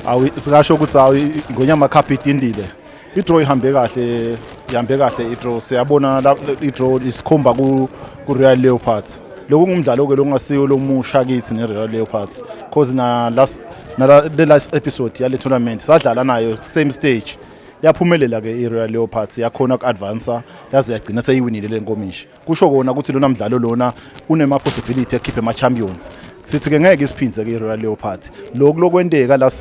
awu sikasho ukuthi awu ingonyama cup idindile idraw ihambe kahle ihambe kahle idraw siyabona idraw isikhomba ku ku Real Leopards lokhu kungumdlalo ke lokungasiyo lomusha kithi ne Real Leopards because na last na the last episode yale tournament sadlala nayo same stage yaphumelela ke i Real Leopards yakhona ku advance yaze yagcina seyiwinile lenkomishi kusho kona ukuthi lona mdlalo lona unema possibility ekhiphe ama champions sithi ke ngeke isiphindze ke Royal Leopards lokhu lokwenteka la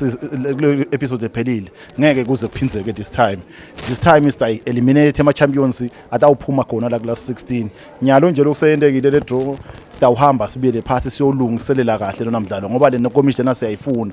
episode ephelile ngeke kuze kuphindzeke this time this time is like eliminate ama champions atawuphuma khona la kula 16 nyalo nje lokuseyentekile le draw sitawuhamba sibuyele phansi siyolungiselela kahle lona mdlalo ngoba le nkomishi lena siyayifuna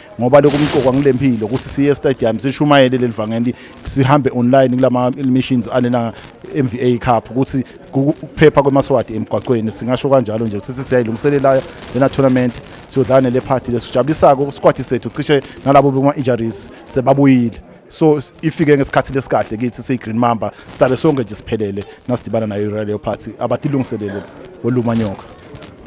ngoba lokhu umqokwa ngile mpilo ukuthi siye stadium sishumayele leli vangeli sihambe online kulama missions alena MVA Cup ukuthi ukuphepha kwemaswati emgwaqweni singasho kanjalo nje ukuthi siyayilungiselela lena tournament siyodlana le party lesijabulisako kusikwati sethu cishe nalabo bema injuries sebabuyile so ifike ngesikhathi lesikahle kithi siyi Green Mamba sidabe sonke nje siphelele nasidibana nayo Royal Party abatilungiselele olumanyoka